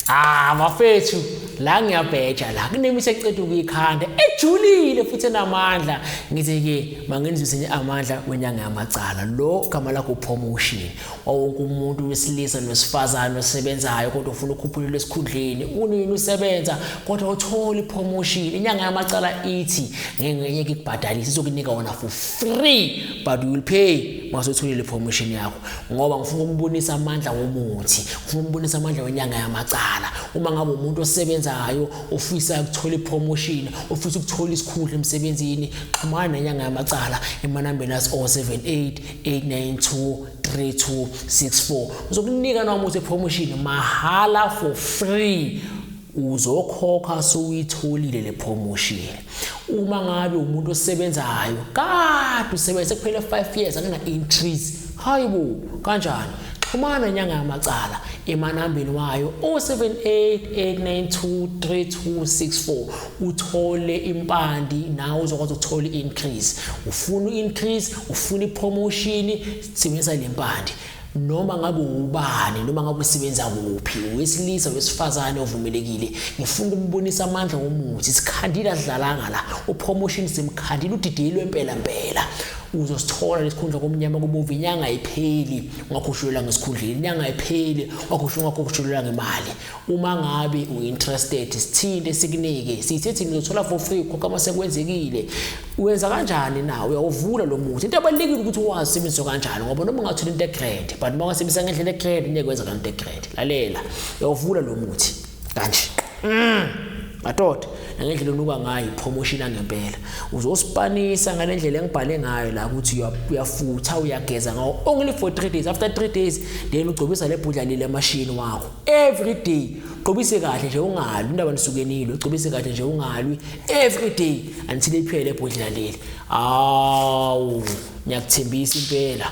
Ah bafethu la ngiyabheja la kunemisa eceda ukuyikhanda ejulile futhi enamandla ngithi ke mangenzise nje amandla wenyanga yamacala lo gama lakho promotion wawonke umuntu wesilisa nosifazane osebenzayo kodwa ufuna ukhuphulelwa esikhundleni unini usebenza kodwa uthola ipromotion inyanga yamacala ithi ngeke ikubhadalise izokunika wona for free but you will pay masotholile promotion yakho ngoba ngifuna ukubonisa amandla womuthi ngifuna ukubonisa amandla wenyanga yamacala uma ngabe umuntu osebenzayo ofisa ukuthola ipromotion ofisa ukuthola isikhundla emsebenzini xhumana nenyanga yamacala emanambeni asi 078 892 3264 uzokunika nomuthi ipromotion mahala for free uzokhokha sowuyitholile le promotion uma ngabe umuntu osebenzayo kade usebenza sekuphele 5 years akena increase hayibo kanjani xhumana inyanga yamacala emanambeni wayo 0788923264 uthole impandi nawe uzokwazi ukuthola i-increase ufuna i-increase ufuna i-promotion sebenzisa le mpande noma ngabe ubani noma ngabe usebenza kuphi wesilisa wesifazane ovumelekile ngifuna ukubonisa amandla womuthi sikhandile adlalanga la upromotion simkhandile udidiyelwe impela mpela uzosithola lesikhundla komnyama kubovu inyanga ayipheli ungakhushulelwa ngesikhundleni inyanga ayipheli ungakhushulelwa ngemali Uma ngabe uinterested sithinte sikunike sithe thina uzothola for free khokha uma sekwenzekile uyenza kanjani na uyawuvula lo muthi into ebalulekile ukuthi wazi sebenzo kanjani ngoba noma ungathola into egrade but uma ungasebenzisa ngendlela egrade ngeke wenza kanti egrade lalela uyawuvula lo muthi kanje mm. madoda nangendlela onuka ngayo promotion angempela uzosipanisa ngalendlela engibhale ngayo la ukuthi uyafutha uyageza ngawo only for 3 days after 3 days then ugcobisa lebhudla lile machine wakho every day gqobise kahle nje ungalwi indaba nisuke nilo gqobise kahle nje ungalwi every day until iphele ebhodlela leli awu ngiyakuthembisa impela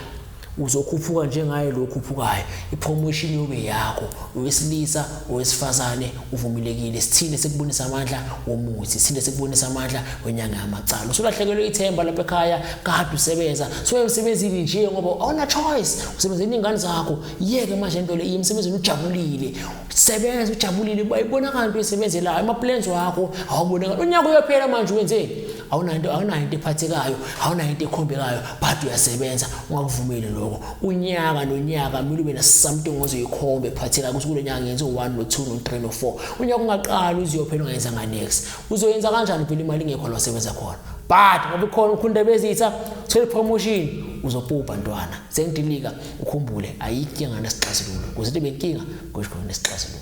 uzokhuphuka njengaye lo khuphukayo ipromotion yobe yakho owesilisa owesifazane uvumelekile sithile sekubonisa amandla womuthi sithile sekubonisa amandla wenyanga yamacala usulahlekelwe ithemba lapha ekhaya kade usebenza so emsebenzini nje ngoba awuna choice usebenzela ingane zakho yeke manje into le imsebenzini ujabulile sebenza ujabulile bayibonakala into esebenzelayo ama-plans wakho awubonakala unyaka uyophela manje wenzeni awunayo into awunayo into ephathekayo awunayo into ekhombekayo but uyasebenza ungakuvumeli lokho unyaka nonyaka kumele ube nasamting ozoyikhomba ephathekayo ukuthi kulo nyaka ngenze u-one no-two no-three no-four unyaka ungaqali uziyophela ungayenzanga next uzoyenza kanjani phela imali ingekho la wasebenza khona but ngoba ikhona ukhunda bezitha thole promotion uzopubha ntwana sengidilika Ukhumbule ayikho inkinga nesixazululo. Kuze ibe inkinga kusho khona nesixazululo.